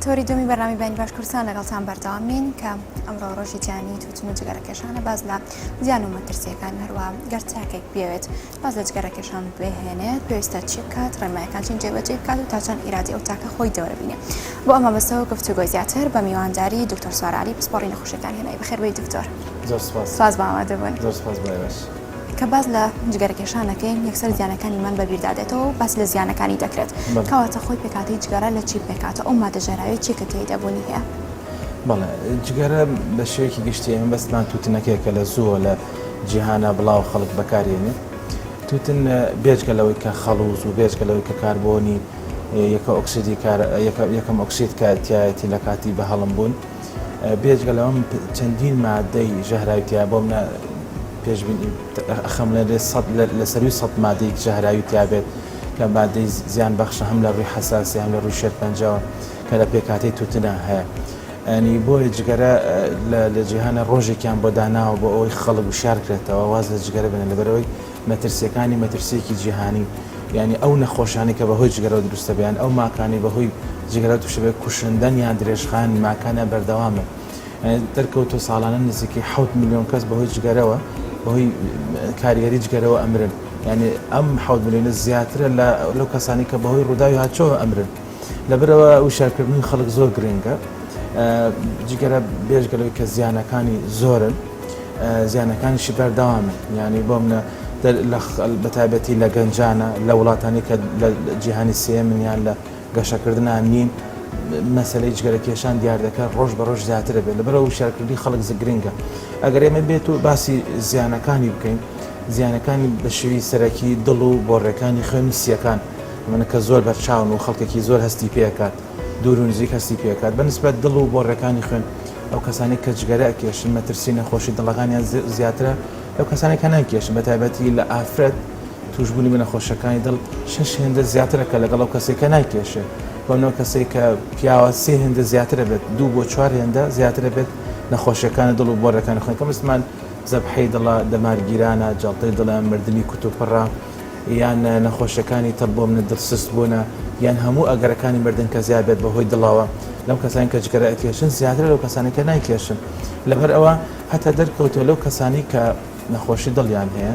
تۆری دومی بەنامی بینی باش کوردستان لەگەڵتان بەردەوامین کە ئەمڕۆ ڕۆژی جیانی توتن و جگەرەکێشانە باز لە زیان و مەترسیەکان هەروە گەر تاکێک بێت باز لە جگەرەکێشان بهێنێت پێویستە چی بکات ڕێمایەکان چین جێبەجێ بکات و تاچەند ئیرادی ئەو تاکە خۆی دەوربینێ بۆ ئەمە بەسەوە گفتوگۆ زیاتر بە میوانداری دکتۆر سوارعلی پسپۆڕی نەخۆشەکان هێنای بەخێربەی دکتۆر زۆر سپاس باوادەبن زۆر سپاس باش. کە باس لە جگەرەکێشان دەکەین یەکسەر زیانەکانی مەم بەبیردا دێتەوە و باس لە زیانەکانی دەکرێت کەواتە خۆی پێکاتی جگەرە لە چی پێکاتە ئەو مادە ژەراوی چی کە تێیدا بوونی هەیە؟ بەڵێ جگەرە بە شێوەیەکی گشتی ئێمە بەسمان تووتنەکەی کە لە زووە لە جیهانە بڵاو خەڵک بەکارێنێ تووتن بێجگە لەوەی کە خەڵوز و بێجگە لەوەی کە کاربوونی یەکە ئۆکسیدی کار یەکەم ئۆکسید کارتیایەتی لە کاتی بە هەڵم بوون بێجگە لەوە من چەندین مادەی ژەهراوی تیایە بۆ منە پێشبینی ئەخەمڵێنرێت سەد لە سەروی سەد مادەیەکی ژەهراوی تیابێت کە مادەی زیان بەخشە هەم لە ڕووی حساسی هەم لە ڕووی شێرپەنجەوە کە لە پێکاتەی توتنا هەیە ئەنی بۆیە جگەرە لە جیهانە ڕۆژێکیان بۆ داناوە بۆ ئەوەی خەڵک وشارکرێتەوە واز لە جگەرە بێنە لەبەرەوەی مەترسیەکانی مەترسیەکی جیهانی یانی ئەو نەخۆشانەی کە بەهۆی جگەرەوە دروستە بێ یان ئەو ماکانەی بەهۆی جگەرەوە توشە بێ کوشندەن یان درێژخایەنی ماکانیان بەردەوامن دەرکەوتوە ساڵانە نزیکەی حەوت ملیۆن کەس بەهۆی جگەرەوە بەهۆی کاریگەری جگەرەوە ئەمرن یانی ئەم حەوت ملیۆنە زیاترە لە لەو کەسانەی کە بەهۆی ڕوداوی هاتچۆوە ئەمرن لەبەرئەوە وشیارکردنی خەڵک زۆر گرنگە جگەرە بێژگە لەوەی کە زیانەکانی زۆرن زیانەکانیشی بەردەوامن یعنی بۆمنە بە تایبەتی لە گەنجانە لە وڵاتانی کە لە جیهانی سێ منیان لە گەشەکردنان نین مەسلەی جگەرە کێشان دیاردەکە ڕۆژ بە ڕۆژ زیاترە بێت لە بەرەوە شارکردنی خەڵک زگرنگە ئەگەر ئێمە بێت و باسی زیانەکانی بکەین زیانەکانی بە شێوی سەرەکی دڵ و بۆڕێکانی خوێنی سیەکان من کە زۆر بەرچاون و خەڵکێکی زۆر هەستی پێ ئەکات، دوور و نزیک هەستی پێ ئەکات، بە نیسبەت دڵ و بۆڕیەکانی خوێن، ئەو کەسانەی کە جگەرە ئەکێشن مەترسی نەخۆشی دڵەکانیان زیاترە لەو کەسانەی کە ناکێشن، بە تایبەتی لە ئافرەت تووشبوونی بە نەخۆشیەکانی دڵ شەش هێندە زیاترە کە لەگەڵ ئەو کەسەی کە ناکێشێ بۆ نۆ کەسەی کە پیاوە سێ هێندە زیاتر ئەبێت دوو بۆ چوار هێندە زیاتر ئەبێت نەخۆشیەکانی دڵ و بۆڕیەکانی خوێن کە مستمان زەبحەی دڵە، دەمارگیرانە، جەڵتەی دڵە، مردنی کوتوپڕە. یان نەخۆشیەکانی تەب بۆمنە دڵ سست بوونە یان هەموو ئەگەرەکانی مردن کە زیاد بێت بەهۆی دڵەوە لەو کەسانی کە جگەرە ئەکێشن زیاتر لەو کەسانی کە نایکێشن لەبەر ئەوە هەتا دەرکەوتۆ لەو کەسانی کە نەخۆشی دڵیان هەیە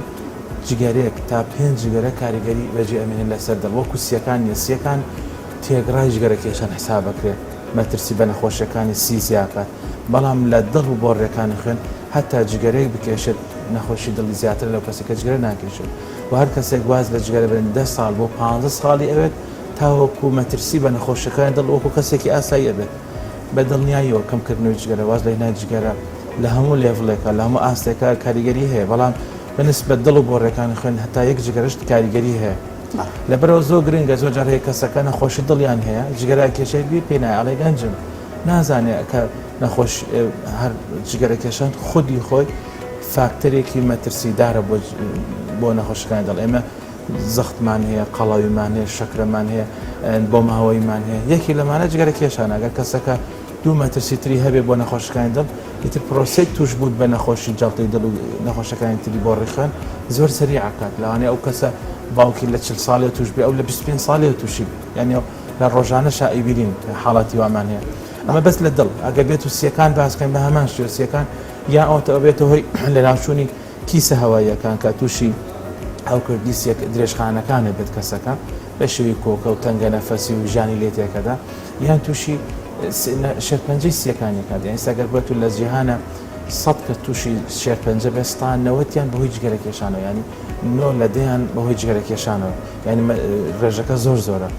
جگەرێک تا پێنج جگەرە کاریگەری بەجێ ئەمێنێت لەسەر دڵ وەکو سیەکان نیە سیەکان تێگڕای جگەرە کێشان حسابەکرێت مەترسی بە نەخۆشیەکانی سی زیاکات بەڵام لە دڵ و بۆڕێکانی خوێن هەتا جگەرەیەک بکێشێت نەخۆشی دڵی زیاترە لەو کەسەی کە جگەرە ناکێشێت و هەر کەسێک واز لە جگەرە بێنێت دە ساڵ بۆ پانزە ساڵی ئەوێت تاوەکو مەترسی بە نەخۆشیەکانی دڵ وەکو کەسێکی ئاسایی ئەبێت بە دڵنیاییەوە کەم کردنەوەی جگەرە واز لە هێنانی جگەرە لە هەموو لێڤڵێکا لە هەموو ئاستێکا کاریگەری هەیە بەڵام بە نسبەت دڵ و بۆڕیەکانی خوێن هەتا یەک جگەرەشت کاریگەری هەیە لەبەرئەوە زۆر گرنگە زۆر جار هەیە کەسەکە نەخۆشی دڵیان هەیە جگەرە ئەکێشێت بیر پێ نایە ئەڵێ گەنجم نازانێ کە نەخۆش هەر جگەرە کێشان خودی خۆی فاکتەرێکی مەترسیدارە بۆ نەخۆشەکانی دڵ ئێمە زەختمان هەیە قەڵاویمان هەیە شەکرەمان هەیە بۆ ماوەیمان هەیە یەکی لەمانە جگەرە کێشانەگە کەسەکە دوو مەترسی تری هەبێ بۆ نەخۆشەکانی دڵ ئیتر پرۆسێک توش بوون بە نەخۆشی جڵتی دڵ و نەخۆشەکانی تری بۆ ڕیخوێن زۆر سەری عکات لەوانێ ئەو کەسە باوکی لە چل ساڵێ توش بێ ئەو لە 25 ساڵێ تووشی یعنی لە ڕۆژانەشا ئەیبیرین حاڵاتی وامان هەیە ئەمە بەس لە دڵ ئەگەر بێت و سیەکان باسکەن بە هەمان شێ سیەکان یا ئەوتە ئەبێتە هۆی لە ناوچوونی کیسە هەواییەکان کە تووشی ئەو کردی سیەک درێژخانەکانە بێت کەسەکە بە شێوی کۆکە و تەنگە نەفەسی و ژانی لێ تێکەدا یان تووشی شێرپەنجەی سیەکانی کات یان ئێستاگەر بێت و لە جیهانە سەد کە تووشی شێرپەنجە بێستان نەوەتیان بەهۆی جگەرە کێشانەوە ینی نۆ لە دەیان بەهۆی جگەرە کێشانەوە ینی ڕێژەکە زۆر زۆرە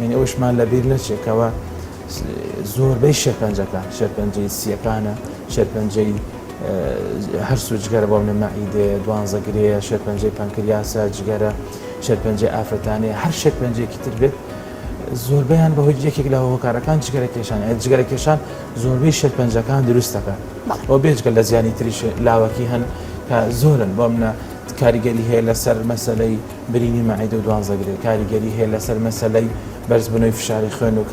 یعنی ئەوشمان لەبیر نەچێکەوە زۆربەی شێرپەنجەکان شێرپەنجەی سییەکانە شێرپەنجەی هەرسو جگەرە بۆ منە مەعیدێ دوانزە گرەیە شێرپەنجەی پەنکریاسە جگەرە شێرپەنجەی ئافرەتانەیە هەر شێرپەنجێکی تر بێت زۆربیان بەهۆی یەکێک لە هۆکارەکان جگەرە کێشان جگەرە کێشان زۆربەی شێرپەنجەکان دروستەکە ئەو بێجگە لە زیانی تریش لاوەکی هەن کە زۆرن بۆ منە کاریگەری هەیە لەسەر مەسلەی برینی مەعیدە و دوانزەگرێ کاریگەری هەیە لەسەر مەسلەی بەرزبوونەوەی فشاری خوێن و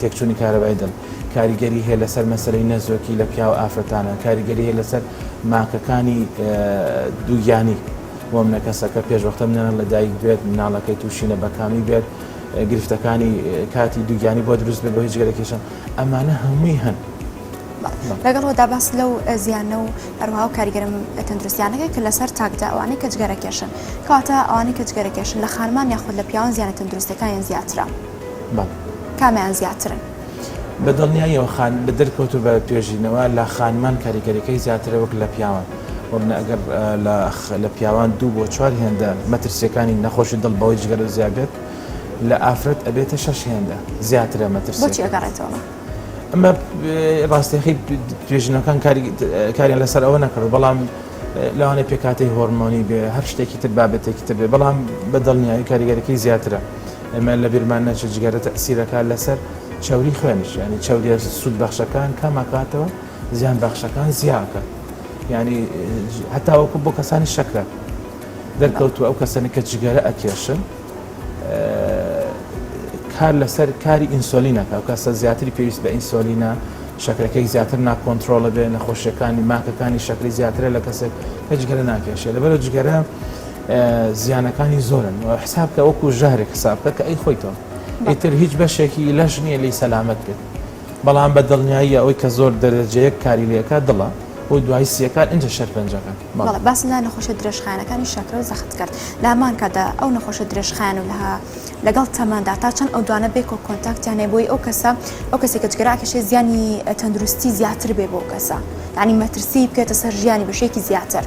تێکچوونی کارەبای دڵ کاریگەری هەیە لەسەر مەسەرەی نەزۆکی لە پیاو ئافرەتانە کاریگەری هەیە لەسەر ماکەکانی دووگیانی بۆ منە کەسەکە پێشوەختە منە لە دایک بێت مناڵەکەی تووشی نە بەکامی بێت گرفتەکانی کاتی دووگیانی بۆ دروست بێت بۆ هیچ گەرەکیشە ئەمانە هەمووی هەن لەگەڵ ئەوەدا باس لەو زیانە و هەروەها و کاریگەرە تەندروستیانەکە کە لەسەر تاکدا ئەوانەی کە جگەرە کێشن کەواتە ئەوانەی کە جگەرە کێشن لە خانمان یاخود لە پیاوان زیانە تەندروستەکانیان زیاترە کامیان زیاترن؟ بە دڵنیاییەوە خان بە دەرکەوت و بە توێژینەوە لە خانمان کاریگەریەکەی زیاترە وەک لە پیاوان وەبنە ئەگەر لە پیاوان دوو بۆ چوار هێندە مەترسیەکانی نەخۆشی دڵ بەوەی جگەرە زیابێت لە ئافرەت ئەبێتە شەش هێندە زیاترە مەترسیەکە. ئەمە ڕاستەخی توێژینەکان کاریان لەسەر ئەوە نەکەەوە بەڵام لەوانێ پێکاتی هۆرمۆنی بێ هەر شتێکی تر بابەتێکی تر بێ بەڵام بەدڵنیایی کاریگەرەکەی زیاترە ئەمە لە بیرمان نەچە جگەرە تەسیرەکە لەسەر چاوری خوێنش ینی چاودێ سوود بەخشەکان کاماکاتەوە زیان بەخشەکان زیاکە ینی هەتاوەکو بۆ کەسانی شەکرە دەرکەوتو ئەو کەسانی کە جگەرە ئەکێشن کار لەسەر کاری ئینسۆلینەکە و کەسە زیاتری پێویست بە ئینسۆلینە شەکرەکەی زیاتر ناکۆنتترۆڵە بێ نەخۆشیەکانی ماکەکانی شەکری زیاترە لە کەسێک کە جگەرە ناکێشێ لەبەر جگەرە زیانەکانی زۆرن و حساب کە وەکو ژەهرێک حساب بکە کە ئەی خۆیتەوە ئیتر هیچ بەشێکی لەش نییە لی سەلامت بێت بەڵام بە دڵنیاییە ئەوی کە زۆر دەرەجەیەک کاری لەکە دڵە بۆی دوای سیەکان ئینجا شەرپەنجەکان بەڵێ باس لە نەخۆشیە درێژخایەنەکانی شەکرە و زەخت کرد لامان کادا ئەو نەخۆشە درێژخایەن و لەها لەگەڵ تەماندا تا چەند ئەو دوانە بێک و کۆنتاکتیانێ بۆی ئەو کەسە ئەو کەسی کە جگەراکەشێ زیانی تەندروستی زیاتر بێ بۆ کەسە یعنی مەترسی بکێتە سەر ژیانی بەشێکی زیاتر.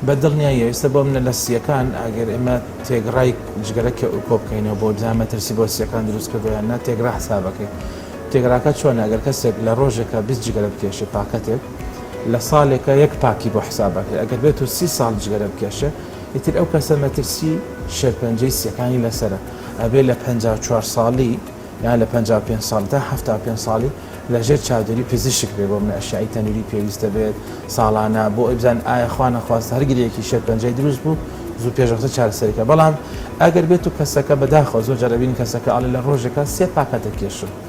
بە دڵنیایی ئێستا بۆ منە لە سییەکان ئەگەر ئێمە تێگڕای جگەرە کۆبکەینەوە بۆ بزان مەترسی بۆ سییەکان دروست کردوە یان نا تێگڕا حسابەکەین تێگراکە چۆنە ئەگەر کەسێک لە ڕۆژێکە بیست جگەرە بکێشێ پاکەتێک لە ساڵێکا یەک پاکی بۆ حساب ئەکرێ ئەگەر بێتو سی ساڵ جگەرە بکێشێ ئیتر ئەو کەسە مەترسی شێرپەنجەی سیەکانی لەسەرە ئەبێ لە پەنجا و چوار ساڵی یان لە پەنجا و پێنج ساڵ تا حەفتا و پێنج ساڵی لە ژێر چاودێری پزیشک بێ بۆ منە ئەشیایی تەنوری پێویستە بێت ساڵانە بۆ ئەوی بزانن ئایا خوا نەخواستە هەر گرێیەکی شێرپەنجەی دروست بوو زوو پێش وەختە چارەسەری کە بەڵام ئەگەر بێتو کەسەکە بەداخەوە زۆر جار ئەبینین کەسەکە ئەڵێ لە ڕۆژێکا سێ پاکەتە کێشم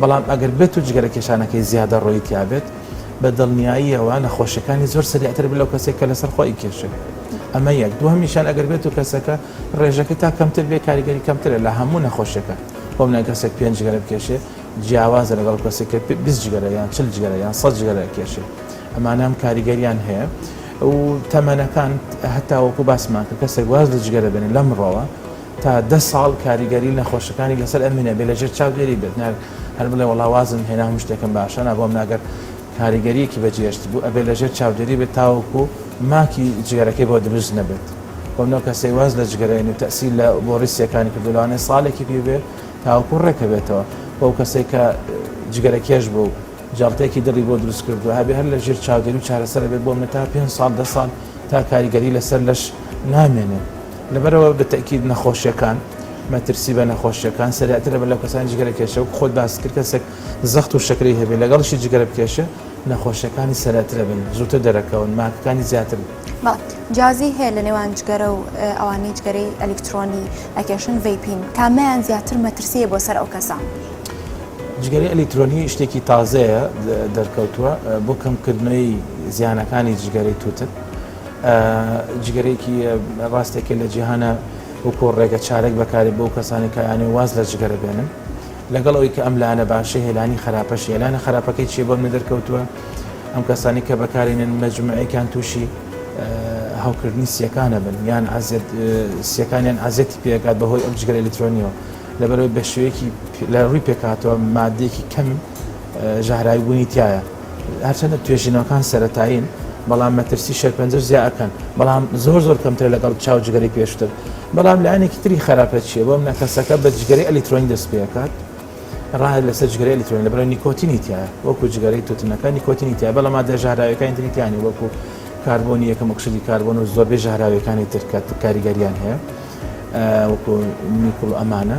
بەڵام ئەگەر بێت و جگەرە کێشانەکەی زیادەڕۆیی تیابێت، بە دڵنیاییەوە نەخۆشیەکانی زۆر سەریعتر بێت لەو کەسەی کە لەسەر خۆ ئەیکێشێت. ئەمە یەک. دووهەمیشیان ئەگەر بێت و کەسەکە ڕێژەکەی تا کەمتر بێت کاریگەری کەمترە لە هەموو نەخۆشیەکان. بۆ مناڵ کەسێک پێنج جگەرە بکێشێت جیاوازە لەگەڵ کەسێک کە بیست جگەرە یان چل جگەرە یان سەد جگەرە ئەکێشێت. ئەمانە ئەم کاریگەریان هەیە و تەمەنەکان هەتاوەکو باسمان کرد کەسێک واز لە جگەرە بێنێت لەمڕۆوە، تا دە ساڵ کاریگەری نەخۆشەکانی لەسەر ئەمین ئەبێ لەژێر چاودێری بێت ناک هەر بڵێ وەڵا وازم هێنا هەموو شتێکم باشە نا بۆم ناگەر کاریگەریەکی بەجێشت بوو ئەبێ لەژێر چاودێری بێت تاوەکو ماکی جگەرەکەی بۆ دروست نەبێت بۆم نەو کەسەی واز لە جگەرەین و تەسی لە بۆ ڕیسیەکانی کردو لەوانێ ساڵێکی پێ بێ تاوەکو ڕێکە بێتەوە بۆ کەسێک کە جگەرە کێش بوو جاڵتێکی دڵی بۆ دروست کردو هەبێ هەر لە ژێر چاودێری و چارەسەرە بێ بۆم نە تا پێنج ساڵ دە ساڵ تا کاریگەری لەسەر لەش نامێنێت لەبەرئەوە بە تەئکید نەخۆشیەکان مەترسی بە نەخۆشیەکان سەریعترە بەر لەو کەسانی جگەرە کێشە وەک خۆت باست کرد کەسێک زەخت و شەکرەی هەبێت لەگەڵیشی جگەرە بکێشە نەخۆشیەکانی سەرەترە بن زووتر دەرەکەون ماکەکانی زیاتر بن. با. جیازی هەیە لە نێوان جگەرە و ئەوانەی جگەرەی ئەلیکترۆنی ئەکێشن، ڤەیپین، کامیان زیاتر مەترسییە بۆ سەر ئەو کەسە؟ جگەرەی ئەلیکترۆنی شتێکی تازەیە دەرکەوتووە بۆ کەمکردنەوەی زیانەکانی جگەرەی تووتن، جگەرەیەکی ڕاستێکە لە جیهانە وەکۆ ڕێگە چارەک بەکارێ بۆ کەسانی کایانێ واز لە جگەرە بێنن لەگەڵ ئەوی کە ئەم لایەنە باشە هێلانی خراپەش هێلانە خراپەکەی چێ بۆ من دەرکەوتووە ئەم کەسانی کە بەکارێنن مەجموعەکان تووشی هەوکردنی سیەکانە بن یان عزیێت سیەکانیان عزیێتی پێکات بەهۆی ئەم جگەر ئەلکترۆنیەوە لەبەرەوەی بە شێوەیەکی لە ڕووی پێکاتەوە مادێکی کەم ژەهراوی بوونی تیایە هەرچەندە توێژینەوەکان سەتایین بەڵام مەترسی شەرپەنجەش زیا ئەەکەن بەڵام زۆر زۆر کەمتر لەگەڵ چاو جگەری پێشتر بەڵام لایەنێکی تری خراپە چیە بۆم نەکەسەکە بە جگەری ئەلیکترۆنی دەست پێکات ڕای لەسەر جگەری ئەلیکترۆنی لە بەرە نیکۆتینی تیا وەکو جگەری توتنەکە نیکۆتینی تیا بەڵام مادە ژاراوەکانی تریتیانی وەکو کاربوونی یەکەم ئۆکسیدی کاربۆن و زۆربەی ژاراوەکانی ترکەت کاریگەریان هەیە وەکو نیکل ئەمانە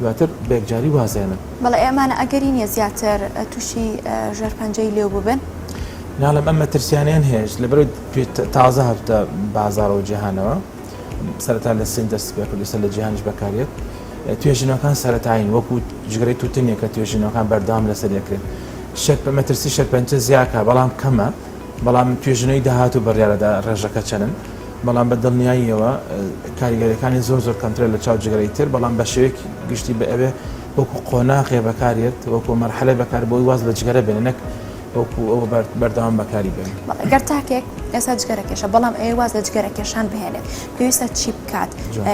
دواتر بەیەکجاری وازێنن. بەڵێ ئەمانە ئەگەری نیە زیاتر توشی ژێرپەنجەی لێو ببن. ناڵێم ئەم مەترسیانەیان هەیەش لەبەرەوەی تازە هاتوتە بازاڕەوە جیهانەوە سەرەتا لە سین دەستی پێ کرد ئیستا لە جیهانیش بەکارێت توێژینەوەکان سەرەتایین وەکو جگەرەی توتنیە کە توێژینەوەکان بەردەوام لەسەر دەکرێت شەر بە مەترسی شەرپەنچە زیاکە بەڵام کەمە بەڵام توێژینەوەی داهاتوو بڕیارەدا ڕێژەکە چەنن بەڵام بە دڵنیاییەوە کاریگەریەکانی زۆر زۆر کەمترە لە چاو جگەرەی تر بەڵام بە شێوەیەکی گشتی بە ئەوێ وەکو قۆناغێ بەکارێت وەکو مەرحەلە بەکار بۆی واز لە جگەرە بێنە نەک وەکو ئەوە بەردەوام بەکاری بێن گەر تاکێک ئێستا جگەرە کێشە بەڵام ئەوێ واز لە جگەرە کێشان بهێنێت پێویستە چی بکات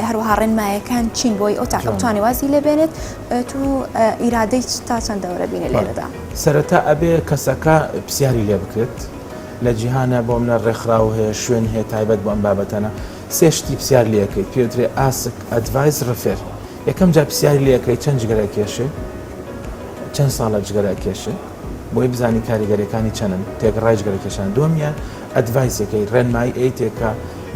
هەروەها ڕێنمایەکان چین بۆی ئەو تاکەوتانی وازی لێبێنێت تو ئیرادەی تا چەند دەورە بینێ لێرەدا سەرەتا ئەبێ کەسەکە پرسیاری لێ بکرێت لە جیهانا بۆم نە ڕێکخراو هەیە شوێن هەیە تایبەت بۆ ئەم بابەتەنە سێ شتی پسیار لێکەیت پێوترێ ئاسک ئەدڤایس ڕفێر یەکەم جا پسیاری لێکەی چەند جگەرە کێشێ چەند ساڵە جگەرە کێشێ بۆی بزانی کاریگەرەکانی چەنن تێک ڕای جگەرە کێشان دووەمیان ئەدڤایسەکەی ڕێنمایی ئەی تێکە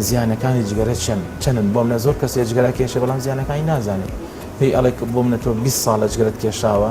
زیانەکانی جگەرە چەند چەنن بۆم نە زۆر کەسێ جگەرە کێشێ بەڵام زیانەکانی نازانێت پێی ئەڵێک بۆم نە تۆ 20 ساڵە جگەرەت کێشاوە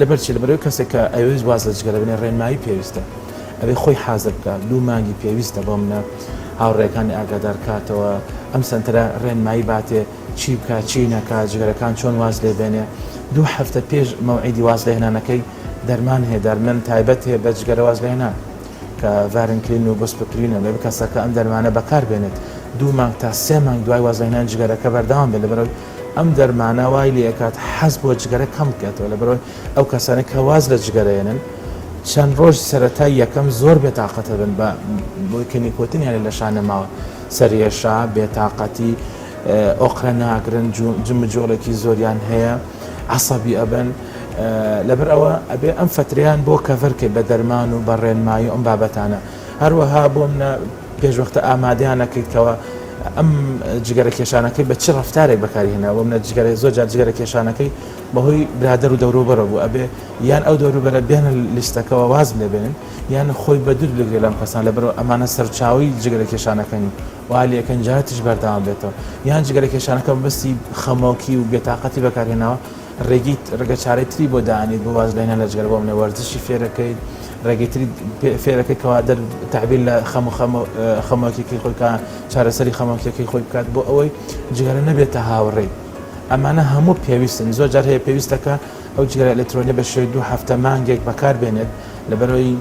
لەبەر چی؟ لەبەرئەوەی کەسێک کە ئەیەوێت واز لە جگەرە بێنێ ڕێنمایی پێویستە. ئەبێ خۆی حازر بکا. دوو مانگی پێویستە بۆ منە هاوڕێکانی ئاگادار کاتەوە. ئەم سەنتەرە ڕێنمایی باتێ چی بکا چی نەکا، جگەرەکان چۆن واز لێ بێنێ. دوو هەفتە پێش مەوعیدی واز لە هێنانەکەی دەرمان هەیە. دەرمن تایبەت هەیە بە جگەرە واز لە هێنان کە ڤارنکلین و بوسپپرینە. ئەبێ کەسەکە ئەم دەرمانە بەکار بێنێت دوو مانگ تا سێ مانگ دوای واز لە هێنانی جگەرەکە بەردەوام بێت لەبەرئەوەی ئەم دەرمانە وای لێئەکات حەز بۆ جگەرە کەم بکەێتەوە لەبەرەوەی ئەو کەسانە کە واز لە جگەرەێنن چەند ڕۆژ سەرەتای یەکەم زۆر بێتاقەتە بن بە بۆی کە نیکۆتن یانە لە شان نەماوە سەرێشا بێتاقەتی ئۆقرە ناگرن جمجۆڵێکی زۆریان هەیە عسەبی ئەبن لەبەر ئەوە ئەبێ ئەم فتریان بۆ کەڤەرکێ بە دەرمان و بە ڕێنمایی ئەم بابەتانە هەروەها بۆ منە پێشوەختە ئامادەیان نەکەیت کەەوە ئەم جگەرە کێشانەکەی بە چ ڕفتارێک بەکاری هێنا بۆ منە جگەرە زۆر جار جگەرە کێشانەکەی بەهۆی برادەر و دەوروبەرە بوو ئەبێ یان ئەو دەوروبەرە بێن لیستەکەەوە واز لێ بێنن یان خۆی بە دوور بگرێت لەم کەسان لە بەرەوە ئەمانە سەرچاوی جگەرە کێشانەکەن و والیەکەنجاتیش بەرداوام بێتەوە یان جگەرە کێشانەکە بەستی خەمۆکی و بێتاقەتی بەکارهێناوە ڕێگەی ڕێگە چارەی تری بۆ دانیت بۆ واز لێنە لە جگەرە بۆ منە وەرزشی فێرەکەیت ڕێگەی تری فێرەکەی کەوا دەر تعبیر لە خەم و خەم خەمۆکیەکەی خۆی کە چارەسەری خەمۆکیەکەی خۆی بکات بۆ ئەوەی جگەرە نەبێتە هاوڕێی ئەمانە هەموو پێویستن زۆر جار هەیە پێویستەکە ئەو جگەرە ئەلکترۆنی بە شێوەی دوو هەفتە مانگێک بەکار بێنێت لەبەرەوەی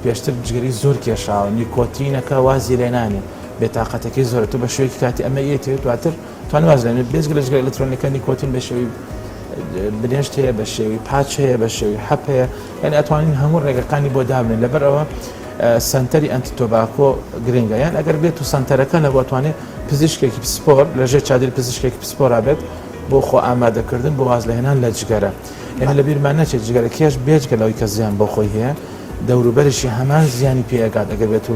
پێشتر جگەری زۆر کێشاوە نیکۆتینەکە وازی لێنانێ بێتاقەتەکەی زۆرە تو بە شوێکی کاتی ئەمە یەتێت دواتر توان واز لێ بێنێت بێجگە لە جگەرە ئەلەکترۆنیەکە نیکۆتین بە شێوەی برێنشت هەیە بە شێوەی پاچ هەیە بە شێوەی حەپ هەیە یعنی ئەتوانین هەموو ڕێگەکانی بۆ دابنێن لەبەر ئەوە سنتەری ئەنتی تۆباکۆ گرنگە یان ئەگەر بێت و سنتەرەکە نەبووتوانێت پزیشکێکی پسپۆر لەژێ چادر پزیشکێکی پسپۆرا بێت بۆ خۆ ئامادەکردن بۆ واز لەهێنان لە جگەرە ئێمە لە بیرمان نەچێت جگەرە کێش بێجگە لەوەی کە زیان بۆ خۆی هەیە دەوروبەرشی هەمان زیانی پێگات ئەگەر بێت و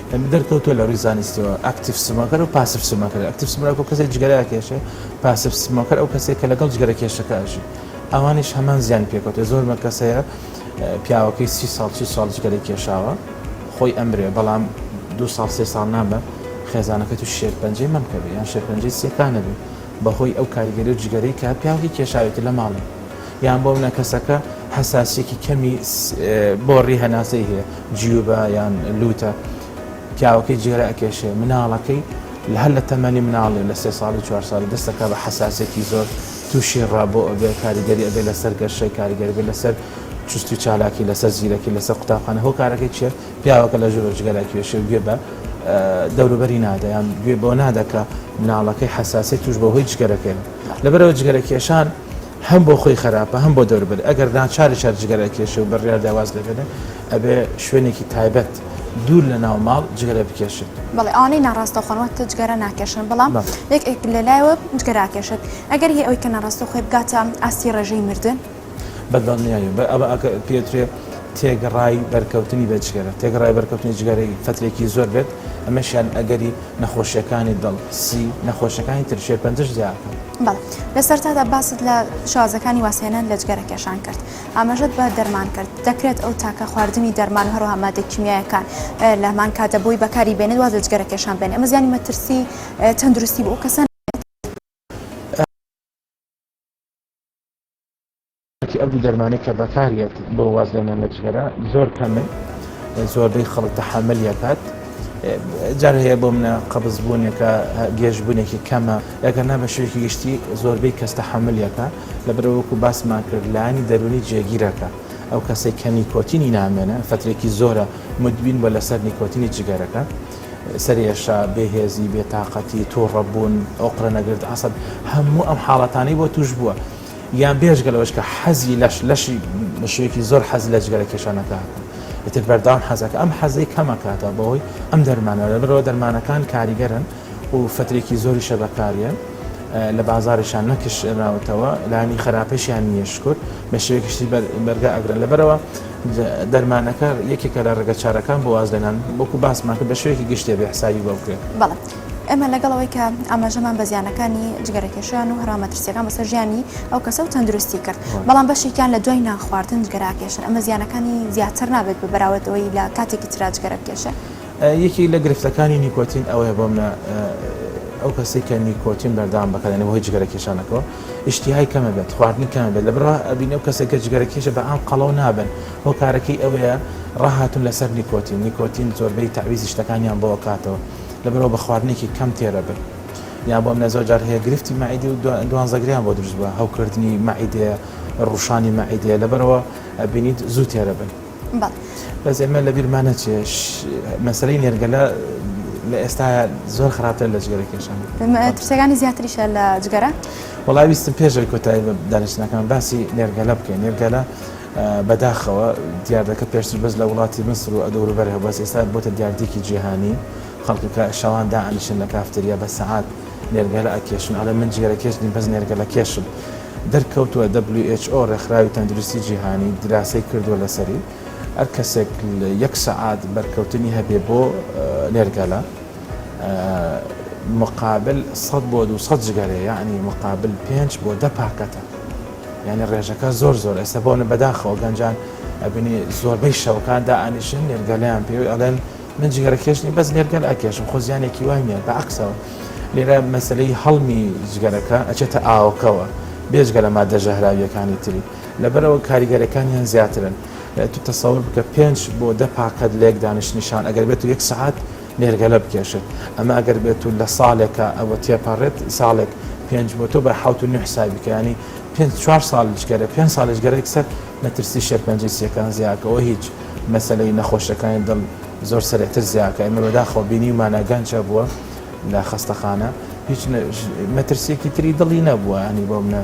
دەرکەوتووە لە ڕووی زانستییەوە ئەکتیڤ سمۆکەر و پاسڤ سمۆکەر، ئەکتیڤ سمۆکەر کەسێک جگەرە ئەکێشێ، پاسڤ سمۆکەر ئەو کەسەیە کە لەگەڵ جگەرەکێشەکە ئەژی ئەوانیش هەمان زیانی پێکەوتووە، زۆر مە کەس هەیە پیاوەکەی سی ساڵ چل ساڵ جگەرەی کێشاوە خۆی ئەمرێ بەڵام دوو ساڵ سێ ساڵ نامە خێزانەکەی تووشی شێرپەنجەی مەمک ئەبێ یان شێرپەنجەی سییەکان ئەبێ بەهۆی ئەو کاریگەری و جگەرەی کە پیاوەکەی کێشاوێتی لە ماڵێ یان بۆ منە کەسەکە حەساسییەکی کەمی بۆڕی هەناسەی هەیە جیوبە یان لووتە پیاوەکەی جێرە ئەکێشێ مناڵەکەی لە هەر لە تەمەنی مناڵێ لە سێ ساڵی چوار ساڵی دەستەکە بە حساسێکی زۆر تووشی ڕابۆ ئەبێ کاریگەری ئەبێ لەسەر گەشەی کاریگەری بێ لەسەر چستی چالاکی لەسەر زیرەکی لەسەر قوتابخانە هۆ کارەکەی چێ پیاوەکە لە ژۆرە جگەرا کێشێ گوێ بە دەوروبەری نادەیان گوێ بۆ نادەکە مناڵەکەی حساسی توش بە هۆی جگەرەکەن لەبەرەوە جگەرە کێشان هەم بۆ خۆی خەراپە هەم بۆ دەوربەری ئەگەر ناچاری شار جگەرە ئەکێشێ و بڕیاردا واز لێبێنێ ئەبێ شوێنێکی تایبەت دوور لە ناو ماڵ جگەرە بکێشێت. بەڵێ ئەوانەی ناڕاستەوخۆن واتە جگەرە ناکێشن بەڵام یەک ئێک لەلایەوە جگەرە ئەکێشێت ئەگەر هی ئەوەی کە ناڕاستەوخۆی بگاتە ئاستی ڕێژەی مردن؟ بەدڵنیایەوە بە ئەوە ئەکە پێترێ تێگڕای بەرکەوتنی بە جگەرە تێگڕای بەرکەوتنی جگەرەی فەترێکی زۆر بێت ئەمەشیان ئەگەری نەخۆشیەکانی دڵ سی نەخۆشەکانی تر شێرپەنجەش دیارکەن. بەڵێ لە سەرتادا باست لە شازەکانی واسێنان لە جگەرە کێشان کرد ئاماژەت بە دەرمان کرد دەکرێت ئەو تاکە خواردنی دەرمان و هەروها مادە کیمیایەکان لە هەمان کاتە بۆی بەکاری بێنێت واز لە جگەرە کێشان بێن ئەمە زیانی مەترسی تەندروستی بۆ ئەو کەسان کەچی ئەو دوو دەرمانەی کە بەکاریەت بۆ وازهێنان لە جگەرە زۆر کەمن زۆربەی خەڵک تەحملیەکات جار هەیە بۆ منە قەبز بوونێکە گێژبوونێکی کەمە لەگەر نا بە شوێکی گشتی زۆربەی کەس تەحملیەکە لە برەوەکو باسمان کرد لانی دەرونی جێگیرەکە ئەو کەسێک کە نیکۆتینی نامێنە فترێکی زۆرە مدوین بە لەسەر نیکۆتینی جگەرەکە سەرێشا بێهێزی بێتاقەتی تووڕەبوون ئۆقرە نەگرت عسب هەموو ئەم حاڵەتانی بۆ توش بووە یان بێجگە لەوەش کە حەزی لەش لەشی بە شێوەیەکی زۆر حەز لە جگەرە کێشان ئەکات و ئیتر بەردەوام حەز ئەکات ئەم حەزەی کەم ئەکاتەوە بەهۆی ئەم دەرمانە لەبەر ئەوە دەرمانەکان کاریگەرن و فترەیەکی زۆریشە بەکاریەن لە بازاڕیشان نەکشێنراوەتەوە لایەنی خەراپیشیان نییە شکور بە شێوەیەکی شتی بەر بەرگا ئەگرن لەبەرەوە دەرمانەکە یەکێکە لە ڕێگە چارەکان بۆ وازلێنان وەکو باسمان کرد بە شێوەیەکی گشتێ بێ حسابی بۆ بکرێت. بەڵێ ئێمە لەگەڵ ئەوەی کە ئاماژەمان بە زیانەکانی جگەرەکێشیان و هەرا مەترسیەکان بەسەر ژیانی ئەو کەسە و تەندروستی کرد بەڵام بەشێکیان لە دوای نانخواردن جگەراکێشن ئەمە زیانەکانی زیاتر نابێت بە بەراوردەوەی لە کاتێکی تررا جگەرەبکێشێ. یەکێک لە گرفتەکانی نیکۆتین ئەوەیە بۆ منە ئەو کەسەی کە نیکۆتین بەردەوام بەکاردێنێ بەهۆی جگەرەکێشانەکەوە ئیشتیهای کەمە بێت خواردنی کەمە بێت لەبەروا ئەبینێ ئەو کەسێک کە جگەرەکێشە بە عام قەڵەو نابن هۆکارەکەی ئەوەیە ڕاهاتوون لەسەر نیکۆتین نیکۆتین زۆربەی تەعویزی شتەکانیان بۆ ئەکاتەوە لەبەرئەوە بە خواردنێکی کەم تێرە بن یان بۆ منە زۆر جار هەیە گرفتی مەعیدی و دوانزەگریان بۆ دروست بە هەوکردنی مەعیدێ ڕوشانی مەعیدێ لەبەرەوە ئەبینیت زوو تێرە بن بەس ئێمە لە بیرمانە چێ مەسلەی نێرگەلە لە ئێستا زۆر خراپتر لە جگەرە کێشان ترسەکانی زیاتریشە لە جگەرە وڵاویستم پێشەوەی کۆتایی دانیشتنەکان باسی نێرگەلە بکەین نێرگەلە بەداخەوە دیاردەکە پێشتر بەس لە وڵاتی میسر و دەوروبەر هەبوو بەس ئێستا بۆتە دیاردیەکی جیهانی خەڵک کە شەوان دائەنیشن لە کافتریا بە سەعات نێرگەلە ئەکێشن ئەڵێن من جگەرەکێش نیم بەس نێرگەلەکێشم دەرکەوتوە who ڕێکخراوی تەندروستی جیهانی دراسەی کردوە لەسەری هەر کەسێک یەک سەعات بەرکەوتنی هەبێ بۆ نێرگەلە مقابل سەد بۆ دوو سەد جگەرەیە یەعنی مقابل پێنج بۆ دە پاکەتە. یانی ڕێژەکە زۆر زۆر ئێستا بۆنە بەداخەوە گەنجان ئەبینی زۆربەی شەوکان دا ئانیشن نێرگەلیان پێ ئەڵێن من جگەرە کێشنی بەس نێرگەل ئەکێشم خۆ زیانێکی وای نیە بە عکسەوە لێرە مەسلەی هەڵمی جگەرەکە ئەچێتە ئاوکەوە بێجگە لە مادە ژەهراویەکانی تری لەبەرەوە کاریگەرەکانیان زیاترن تو تەسەور بکە پێنج بۆ دە پاکەت لێک دانیشتنیشان ئەگەر بێت و یەک سعات نێرگەلە بکێشێت ئەمە ئەگەر بێت و لە ساڵێکە ئەوە تێپەڕێت ساڵێک پێنج بۆ تۆ بە حوت و نوح سابیکانی پێنج چوار ساڵیش گەرە پێنج ساڵیش گەرەێک سەر مەترسی شێرپەنجەی سیەکان زیاکەەوە هیچ مەسلەی نەخۆشەکانی دڵ زۆر سرەتر زیاکە ئەمە بەداخەوە بینی ومانە گەنجە بووە لە خەستەخانە هیچ مەترسیەکی تری دڵی نەبووە ئەنی بۆ منە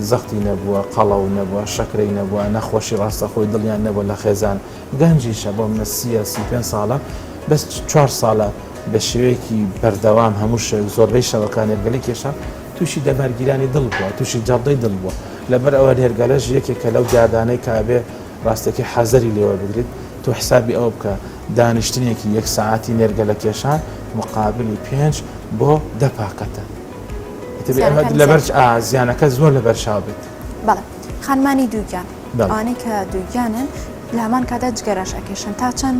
زەختی نەبووە قەڵە و نەبووە شەکرەی نەبووە نەخۆشی ڕاستەخۆی دڵیان نەبووە لە خێزان گەنجیشە بۆ منە سی ە سی پێنج ساڵە بەس چوار ساڵە بە شێوەیەکی بەردەوام هەموو شەوێک زۆربەی شەوەکان نێرگەلەی کێشا تووشی دەمارگیرانی دڵ بووە تووشی جەڵدەی دڵ بووە لەبەر ئەوە نێرگەلەش یەکێکە لەو دیاردانەی کە ئەبێ ڕاستەکی حەزەری لێوە بگریت تۆ حسابی ئەوە بکە دانیشتنێکی یەک سەعاتی نێرگەلە کێشان مقابلی پێنج بۆ دە پاکەتە ئیتر ئەمە لەبەر زیانەکە زۆر لەبەرچاو بێت. بەڵێ خانمانی دووگیان ئەوانەی کە دووگیانن لە هەمان کادا جگەرەش ئەکێشن تا چەند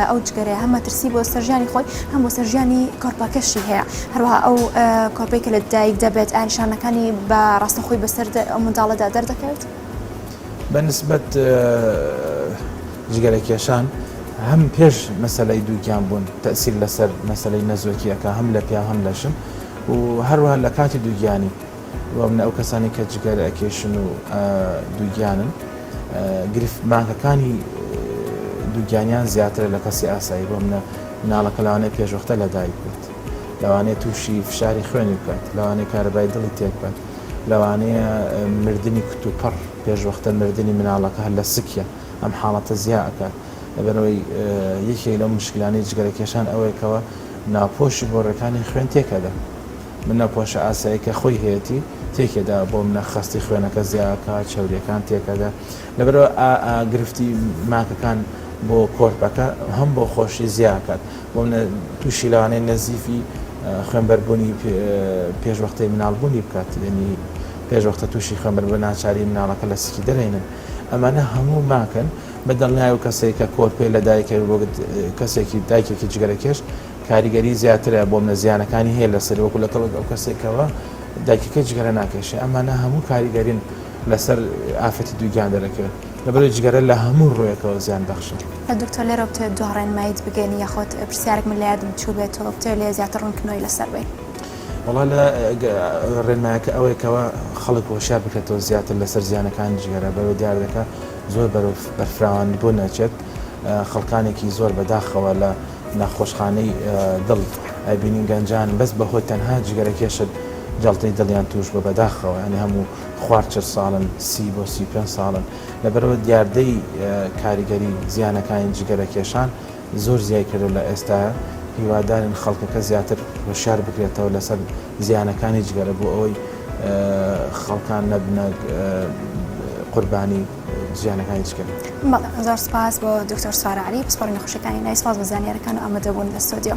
ئەو جگەرەیە هەم مەترسی بۆ سەرژیانی خۆی هەم بۆ سەرژیانی کۆرپەکەشی هەیە هەروە ئەو کۆرپی کە لە دایک دەبێت ئاینشانەکانی بە ڕاستەخۆی بەسەر ئەو منداڵەدا دەردەکەوێت بە نسبەت جگەرە کێشان هەم پێش مەسلەی دووگیان بوون تەسیر لەسەر مەسلەی نەزۆکیەکە هەم لە پیا هەم لەشن و هەروە لە کاتی دووگیانی وە منە ئەو کەسانەی کە جگەرە ئەکێشن و دووگیانن گرفت مانکەکانی دووگیانیان زیاترە لە کەسی ئاسایی بۆ منە مناڵەکە لەوانەیە پێشوەختە لەدایک بێت لەوانەیە تووشی فشاری خوێنی بکات لەوانەیە کارەبای دڵی تێکبات لەوانەیە مردنی کت و پڕ پێشوەختە مردنی مناڵەکە هەر لە سکیە ئەم حاڵەتە زیا ئەکات لەبەرەوەی یەکێک لەو مشکلانەی جگەرەکێشان ئەوەیەکەوە ناپۆشی بۆ ڕێکانی خوێن تێکەدا منە پۆشە ئاساییەکە خۆی هەیەتی تێکێ دا بۆ منە خەستی خوێنەکە زیاکا چەوریەکان تێکەدە لەبەرەوە ئا ئا گرفتی ماکەکان بۆ کۆرپەکە هەم بۆ خۆشی زیاکات بۆ منە تووشی لەوانەیە نەزیفی خوێنبەربوونی پێش وەختەی مناڵبوونی بکات یعنی پێش وەختە تووشی خوێنبەر بە ناچاری مناڵەکە لە سکی دەرێنن ئەمانە هەموو ماکەن بە دڵنیای و کەسێک کە کۆرپێ لە دایکەوە بۆ کەسێکی دایکێکی جگەرەکێش کاریگەری زیاترە بۆ منە زیانەکانی هەیە لەسەری وەکو لەگەڵ ئەو کەسێکەوە دایکەکەی جگەرە ناکێشێ ئەمانە هەموو کاریگەرین لەسەر ئافرەتی دووگیان دەرەکەوێت لەبەر جگەرە لە هەموو ڕوویەکەوە زیان بەخشە دکتۆر لێرەوە بتەوێت دوا ڕێنماییت بگەین یاخۆت پرسیارێک من لە یادم چووبێتەوە بتەوێت لێ زیاتر ڕوونکردنەوەی لەسەر بەین. وەڵا لە ڕێنمایەکە ئەوەیە کەەوە خەڵک هۆشیار بکرێتەوە زیاتر لەسەر زیانەکانی جگەرە بەوە دیاردەکە زۆر بەرەو بەرفراوانبوون نەچێت خەڵکانێکی زۆر بەداخەوە لە نەخۆشخانەی دڵ ئەبینین گەنجان بەس بەهۆی تەنها جگەرەکێشت جەڵتەی دڵیان توش بوە بەداخەوە یانی هەموو خوار چل ساڵن سی بۆ سی و پێنج ساڵن لەبەرئەوە دیاردەی کاریگەری زیانەکانی جگەرەکێشان زۆر زیای کردوە لە ئێستایا هیوادارین خەڵکەکە زیاتر هۆشیار بکرێتەوە لەسەر زیانەکانی جگەرە بۆ ئەوەی خەڵکان نەبنە قوربانی زیانەکانی چ کەمە؟ بەڵێ زۆر سپاس بۆ دکتۆر سارا عەلی پسپۆڕی نەخۆشیەکانی نای سپاس بۆ زانیارەکان و ئامادەبوون لە ستۆدیۆ.